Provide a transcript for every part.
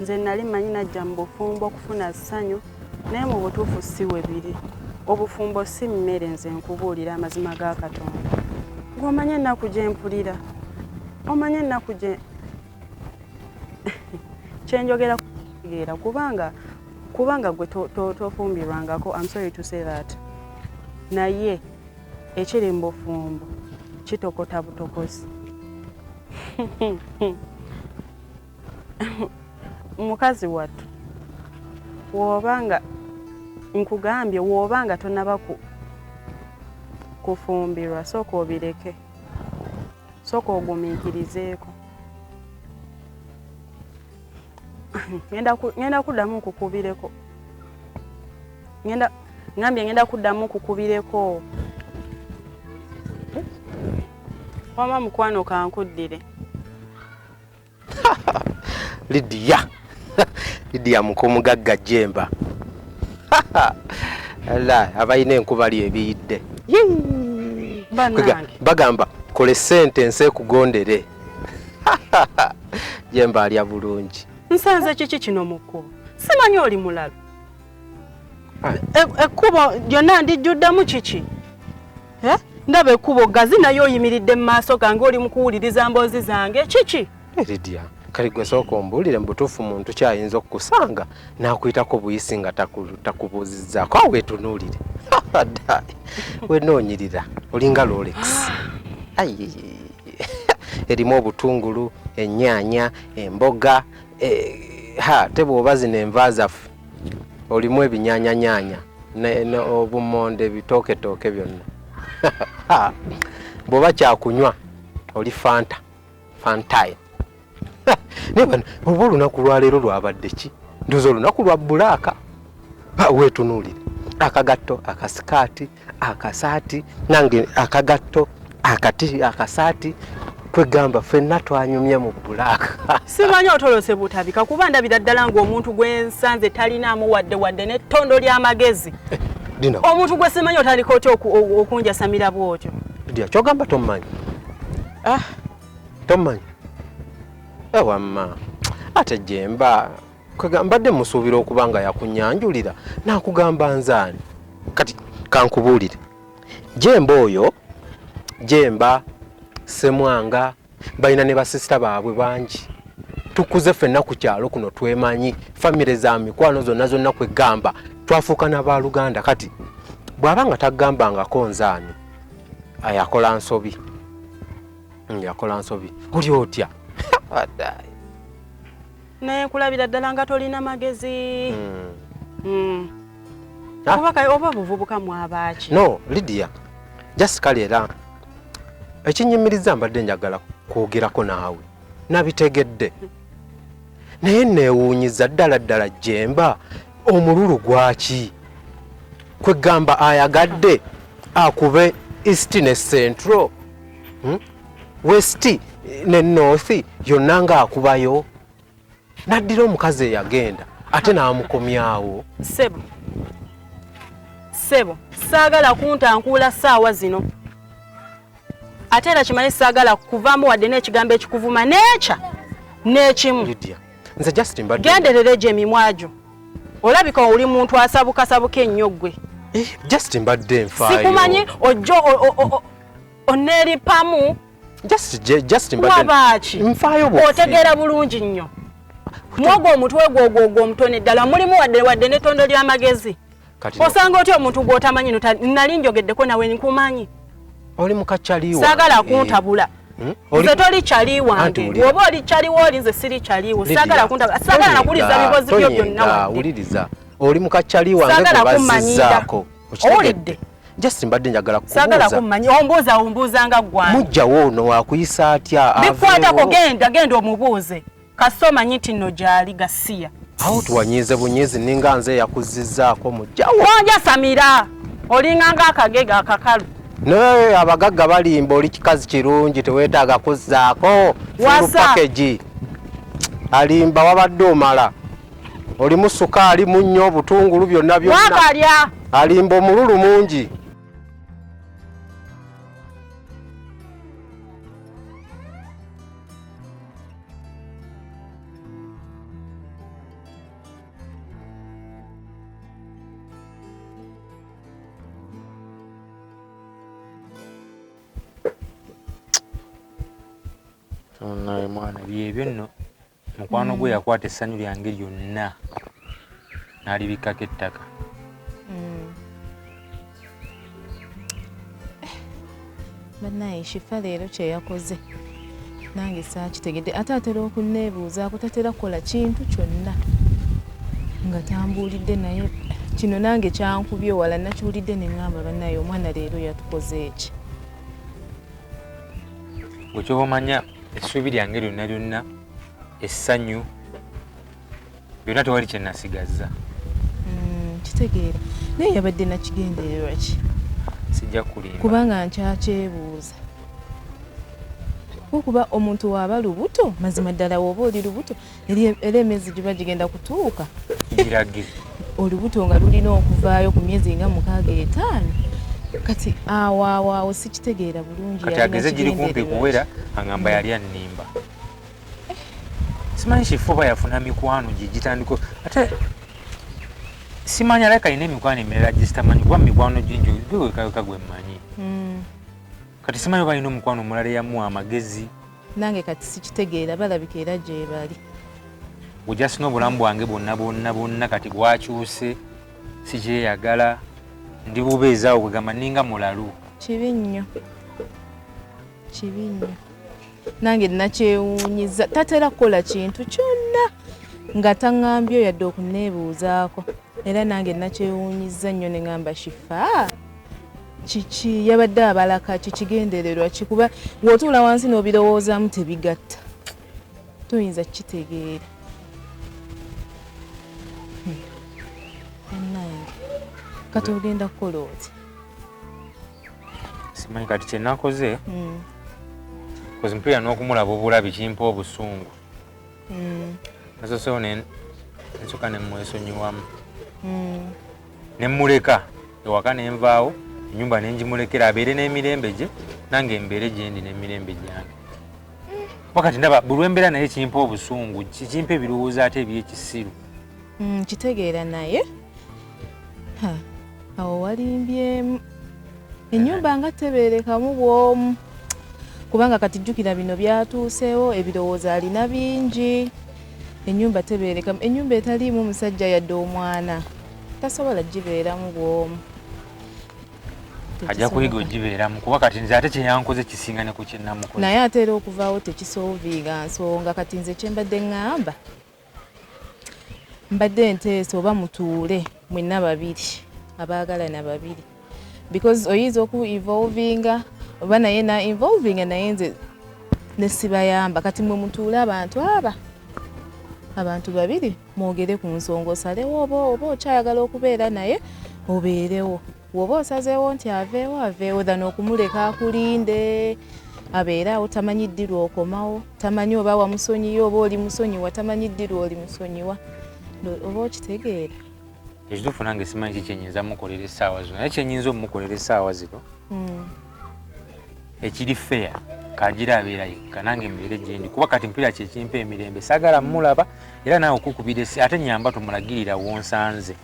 nze nali manyi najja mu bufumbo okufuna ssanyu naye mu butuufu si we biri obufumbo si mmere nze nkubuulira amazima ga katonda ng'omanya ennaku gye mpulira omanya ennaku gye kyenjogera kutegeera kubanga kubanga gwe tofumbirwangako am sorry to say that naye ekiri mu bufumbo kitokota butokozi mukazi wattu woba nga nkugambye woba nga tonaba ku kufumbirwa sooka obireke sooka ogumiikirizeeko ngenda kuddamu nkukubireko ngambye ngenda kuddamu nkukubireko wama mukwano kankuddire lidiya lidiya mukomugagga jemba abalina enkubali ebiyidde bagamba kole sente ensi ekugondere jemba alya bulungi nsanze kiki kino mukubo simanyi oli mulalu E, ekkubo lyonna ndijjuddemu kiki eh? ndaba ekkubo gazi naye oyimiridde mu maaso gange oli mukuwuliriza mboozi zange kiki eridia kale gwe sooka ombuulire mu butuufu muntu kyayinza okukusanga n'akuyitako buyisi nga takubuuzizzaako awo wetunuulire dai wenoonyirira olinga lolex erimu obutungulu ennyaanya emboga eh, ha te bw'oba zino enva zaffe olimu ebinyanyanyanya obumonde ebitooketooke byonna bwoba kyakunywa oli fanta fantaye naye bano oba olunaku lwaleero lwabadde ki ndoza olunaku lwa bulaaka wetunuulire akagatto akasikaati akasaati nange akagatto akati akasaati kwegamba fenna twanyumye mu bulaaka simanyi otolose butabika kuba ndabira ddala ng'omuntu gwensanze talinaamu wadde wadde nettondo ly'amagezi eh, omuntu gwe simanyi otandika otya okunjasamira bwotyo dia kyogamba tommanyi ah. tommanyi ewamma eh, ate jemba kwega mbadde musuubira okuba nga yakunyanjulira nakugamba nzaani kati kankubuulire jemba oyo jemba semwanga balina ne basisita baabwe bangi tukuze fenna ku kyalo kuno twemanyi famire za mikwano zonna zonna kwegamba twafuuka na baluganda kati bw'aba nga tagambangako nzaani ayakola nsobi yakola nsobi oli otya naye kulabira ddala nga tolina magezi hmm. Hmm. Ah. kuba kale oba buvubuka mwabaaki no lidia just kale era ekinyumiriza mbadde njagala kwogerako naawe nabitegedde naye neewuunyiza ddala ddala jemba omululu gwaki kwegamba ayagadde akube east ne central hmm? west ne north yonna ng'akubayo n'addira omukazi eyagenda ate n'amukomyawo sebo sebo saagala kuntankuula saawa zino ate era kimanye saagala kuvaamu wadde n'ekigambo ekikuvuma neekya n'ekimu genderera egyo emimwa gyo olabika oli muntu asabukasabuka ennyo ggwe eh, just mbadde nfaayo sikumanyi ojjo onelipamu just just mbadde nfaayo bwo otegeera bulungi nnyo mwogwo omutwe gwo ogwo ogwo omutone ddala mulimu wadde wadde n'ettondo ly'amagezi osanga otya omuntu gw'otamanyi nali njogeddeko nawe nkumanyi oli mukakyaliwa saagala eh. kuntabula hmm? nze toli kyali wange woba oli kyali wooli nze siri kyaliwo saagala kuntabula saagala nakuwuliriza bibozi byo byonna wuliriza oli mukakyali wange gwebazizaako owulidde just mbadde njagala sagala kumanya ombuuza ombuuza nga ggwani mujjawo ono wakuyisa atya bikwatako genda genda omubuuze kasita omanyi nti nno gyali gasiya awo tuwanyiize bunyiizi ninga nze eyakuzizzaako mujjawo onjasamira olinga nga akagega akakalu naye abagagga balimba oli kikazi kirungi teweetaaga kuzzaako fulu pakegi alimba wabadde omala olimu sukaali munnyo obutungulu byonna byonna alimba omululu mungi naye mwana byebyo nno mukwano gwe mm. yakwata essanyu lyange lyonna n'alibikkako ettaka mm. eh, banaye shifa leero kyeyakoze nange saakitegedde ate atera okunneebuuzaako tatera kukola kintu kyonna nga tambuulidde naye kino nange kyankubye wala nakiwulidde ne ŋŋamba banaye omwana leero yatukoze eki wekyoba omanya essuubi lyange lyonna lyonna essanyu byonna tewali kyenasigazza mm, kitegeera naye yabadde nakigendererwa ki sijja kulimba kubanga nkyakyebuuza kuba omuntu waba lubuto mazima ddala woba oli lubuto era emyezi giba gigenda kutuuka girage olubuto nga lulina okuvaayo ku myezi nga mukaaga etaano kati awo awo awo sikitegeera bulungi kati ageze giri kumpi kuwera angamba yali annimba eh. simanyi kifuba yafuna mikwano gye gitandiko ate simanyi alabika alina emikwano emirala gyesitamanyi kuba mikwano gingi gwewekaweka gwe mmanyi hmm. kati simanyi oba alina omukwano omulala eyamuwa amagezi nange kati sikitegeera balabika era gyebali ojasina obulamu bwange bwonna bwonna bwonna kati bwakyuse sikyeyagala ndi bubeezaawo kwegamba ninga mulalu kibi nnyo kibi nnyo nange nakyewunyiza tatera kukola kintu kyonna nga taŋambye yadde okuneebuuzaako Era nange nakyewuunyizza nnyo ne ngamba Shifaa kiki yabadde abalaka kikigendererwa ki kuba ng'otuula wansi n'obirowoozamu tebigatta toyinza kukitegeera hmm. bannange kati ogenda kukola oti simanyi kati kyenakoze hmm. kozimpeera n'okumulaba obulabi kimpa obusungu mm. nasosewo nsoka nemwesonyiwamu mm. nemuleka ewaka nenvaawo enyumba nenjimulekera abeere n'emirembe gye nange mbeere gyendi n'emirembe gyange wakati ndaba buli wembeera naye kimpa obusungu kimpa ebirowoozo ate ebyekisiru mm, kitegeera naye awo walimbyemu enyumba nga teberekamu bwomu kubanga kati jjukira bino byatuuseewo ebirowoozo alina bingi enyumba teberekamu enyumba etaliimu musajja yadde omwana tasobola gibeeramu bwomu ajja kuyiga ogibeeramu kuba kati nze ate kyeyankoze kisinga ne ku kyenamukoze naye ate era okuvaawo tekisooviinga nsonga kati nze kyembadde ŋŋamba Mbadde nteesa oba mutuule mwenna babiri abaagalana babiri because oyinza oku evolvinga oba naye na evolvinga naye nze nesibayamba kati mwe mutuule abantu aba abantu babiri mwogere ku nsonga osalewo oba oba okyayagala okubeera naye obeerewo Woba osazeewo nti aveewo aveewo than okumuleka akulinde abeere awo tamanyi ddi lwokomawo tamanyi oba wamusonyiye oba oli musonyiwa tamanyi ddi lwoli musonyiwa oba okitegeera ekituufu nange simanyi ki kyenyinza mukolera essaawa zino naye kyenyinza omukolera essaawa zino hmm. ekiri feya kagira abeera yekka nange mbeere gyendi kuba kati mpira kyekimpa emirembe sagala mulaba era naawe okukubira esi ate nyamba tumulagirira wonsanze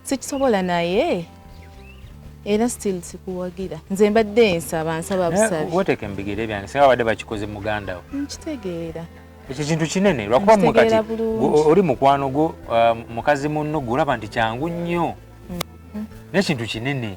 sikisobola naye era still sikuwagira nze mbadde nsaba nsaba eh, busabi weteke mubigere byange singa babadde bakikoze muganda wo nkitegeera ekyo kintu kinene lwakuba mwe kati oli mukwano gwo uh, mukazi munno gwe olaba nti kyangu nnyo mm-hmm. nekintu kinene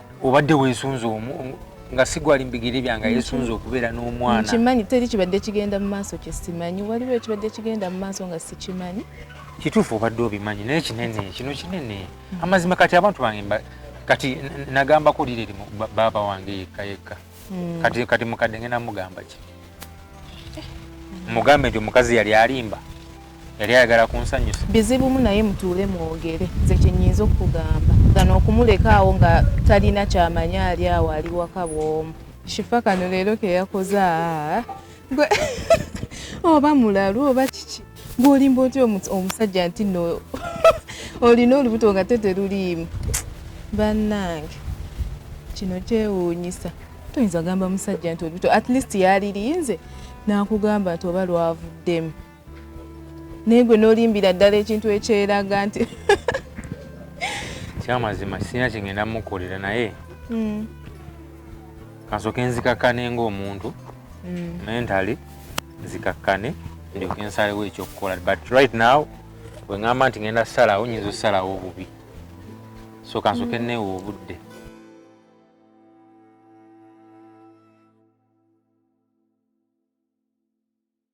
obadde wesunze omu nga sigwali mbigere byanga yesunze okubeera n'omwana nkimanyi teri kibadde kigenda mu maaso kye simanyi waliwo ekibadde kigenda mu maaso nga sikimanyi kituufu obadde obimanyi naye kinene kino kinene amazima kati abantu bange kati nagambako lireri baaba wange yekka yekka mm. kati kati mukadde ngenda mugamba ki eh. mugambe nti omukazi yali alimba yali ayagala kunsanyusa bizibumu naye mutuule mwogere nze kyenyinza okukugamba gano okumulekaawo nga talina kyamanya ali awo ali waka bwomu shifa kano leero keyakoze gwe oba mulalu oba kiki gwolimba otya omusajja nti no olina olubuto nga teteruliimu bannange kino kyewuunyisa tuyinza gamba musajja nti olubuto at least yaliriinze nakugamba nti oba lwavuddemu naye gwe nolimbira ddala ekintu ekyeraga nti kyamazima sirina kyengenda mukolera naye hmm. kansoke nzikakkane ngaomuntu hmm. mentally nzikakkane ndyoke nsalewo ekyokukola but right now wengamba nti ngenda salawo nyinza osalawo obubi so kansoke hmm. neewo obudde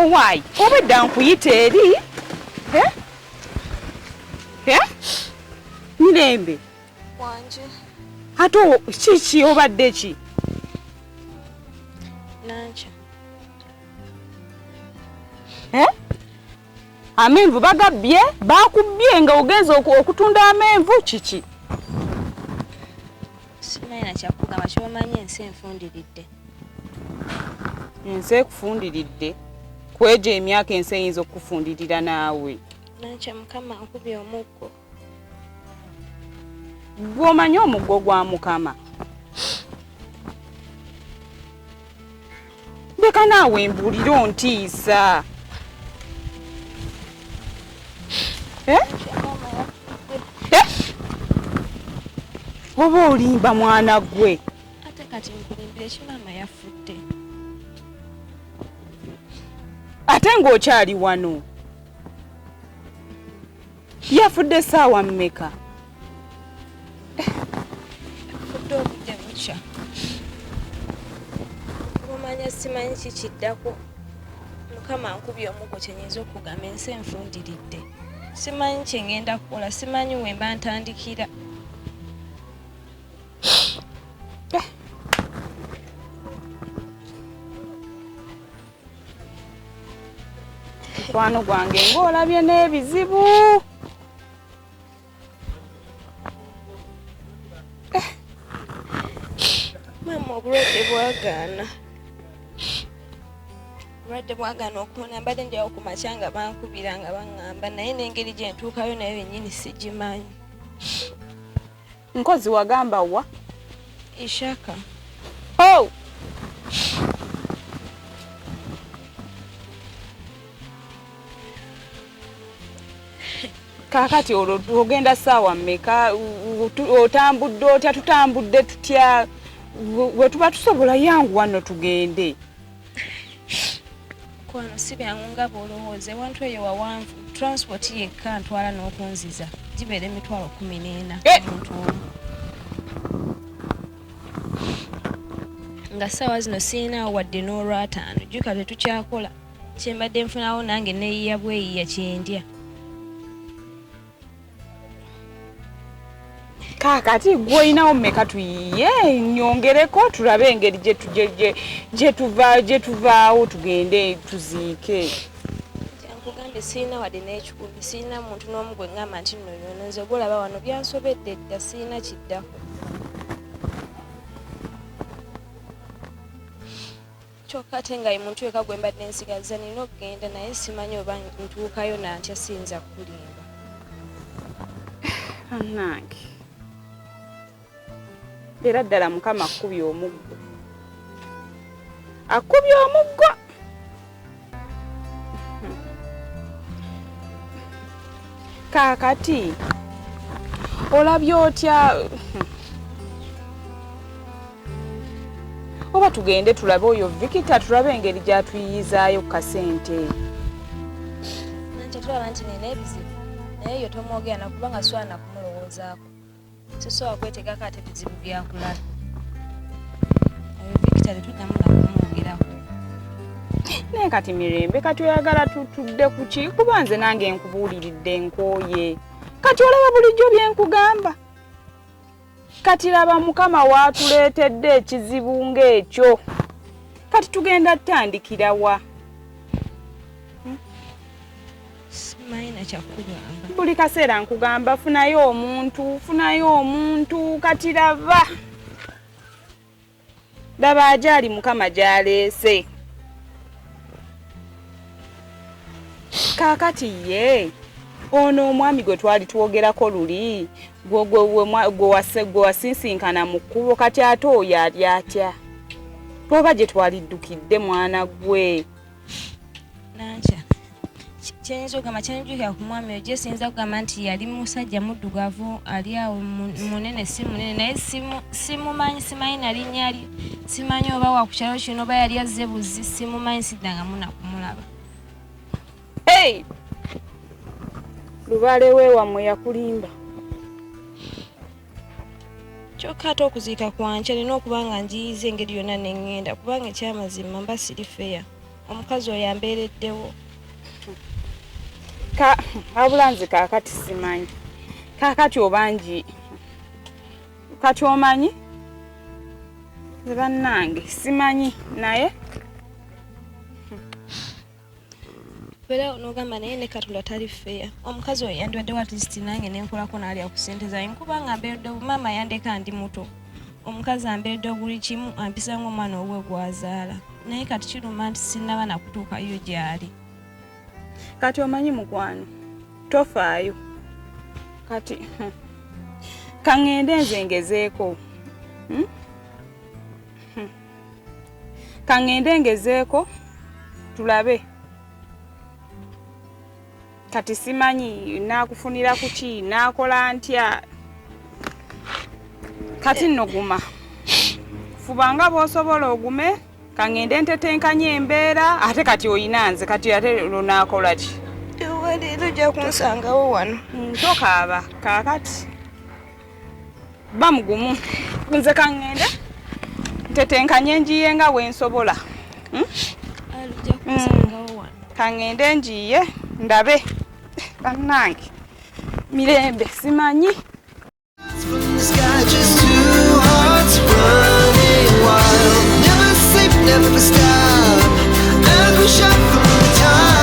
owaayi obwedda nkuyita eri eh? Eh? mirembe wanje ate kiki obadde ki nankya amenvu bagabbye bakubbye nga ogenza okutunda amenvu kiki simaina kyakugamba kyomanyi ensi enfundiridde ensi ekufundiridde kwejo emyaka ensi eyinza okukufundirira naawe nakyo mukama okubya omuggo gwomanyi omuggo gwa mukama leka naawe mbuulire ontiisa eh? Eh? oba olimba mwana gwe ate kati nkulimbira ekimaama yafudde ate ng'okyali wano yafudde saawa mmeka fudde obudde bukya mumanya simanyi kikiddako mukama nkubye omugo kyenyinza okugamba ensi enfundiridde simanyi kyengenda kukola simanyi wemba ntandikira mukwano gwange ng'olabye n'ebizibu eh. maama obulwadde bwagaana obulwadde bwagaana okubona mbadde njawo ku makya nga bankubira nga baŋŋamba naye n'engeri gye ntuukayo naye bennyini sigimanyi Nkozi wagamba wa? Ishaka. Oh! Kakati olwo ogenda saawa mmeka otambudde otya tutambudde tutya we tuba tusobola yangu wano tugende mukwano si byangu nga bwolowooza ewantu eyo wawanvu transport yekka ntwala n'okunziza gibeera emitwalo kumi n'ena eh! omuntu omu nga ssaawa zino sirinaawo wadde n'olwataano jjuka tetukyakola kyembadde nfunawo nange neyiya bweyiya kyendya kaakati gwe olinawo mmeka tuyiye nyongereko tulabe engeri gyetuvaawo tugende tuziike kyankugambe sirina wadde n'ekikumi sirina muntu n'omu gwe ngamba nti noyono nze gwolaba wano byansobedde dda sirina kiddako kyokka ate nga ye muntu yekka gwe mbadde nsigazza nina okugenda naye simanyi oba ntuukayo nantya siyinza kukulimba banange era ddala mukama akukubye omuggo akukubye omuggo kaakati olabye otya oba tugende tulabe oyo vikita tulabe engeri gyatuyiyizayo ku kasente kyetulaba nti nina ebizibu naye yo tomwogera nakuba nga swana kumulowoozaako sisobola kwetegako ate bizibu byakulala victory tuddamu nakumwogerako naye kati mirembe kati oyagala tutudde kuki kuba nze nange nkubuuliridde nkooye kati olaba bulijjo byenkugamba kati laba mukama waatuleetedde ekizibu ng'ekyo kati tugenda tutandikira wa simayina kyakugamba buli kaseera nkugamba funayo omuntu funayo omuntu kati laba laba ajaali mukama gyaleese kaakati ye ono omwami gwe twali twogerako luli gwe wasinsinkana mu kkubo kati ate oyo ali atya oba gye twaliddukidde mwana gwe nankya kyenyiza okugamba kyenjukira ku mwami oyo gyesiyinza okugamba nti yali musajja muddugavu ali awo munene si munene naye simumanyi simanyi nalinya li simanyi oba wakukyalo kino oba yali azze buzi simumanyi siddangamu nakumulaba lubaale wewamwe yakulimba kyokka ate okuziika kwankya nina okuba nga njiyiza engeri yonna nengenda kubanga ekyamazima mba siri feya omukazi oyo ambeereddewo abula nze kakati simanyi kakati obangi kati omanyi bannange simanyi naye Bera onogamba naye ne katonda tali feya omukazi oyo yandiwadde watisiti nange nenkolako naalya ku sente zange nkuba nga mberedde maama yandeka ndi muto omukazi amberedde buli kimu ampisa ngaomwana owuwe gwazaala naye kati kiruma nti sinaba nakutuukayo gyali kati omanyi mukwano tofaayo kati hmm, kaŋŋende nze ngezeeko hmm? kaŋŋende ngezeeko tulabe kati simanyi naakufunira kuki naakola ntya kati nno guma fuba nga bw'osobola ogume kaŋŋende ntetenkanye embeera ate kati oyina nze kati ate lunaakola ki ewaleero ojja kunsangawo wano ntokaaba kaakati bamugumu nze kaŋŋende ntetenkanye njiye nga wensobola hmm? hmm. kaŋŋende njiye ndabe bannange mirembe simanyi Never stop, every shot from the top.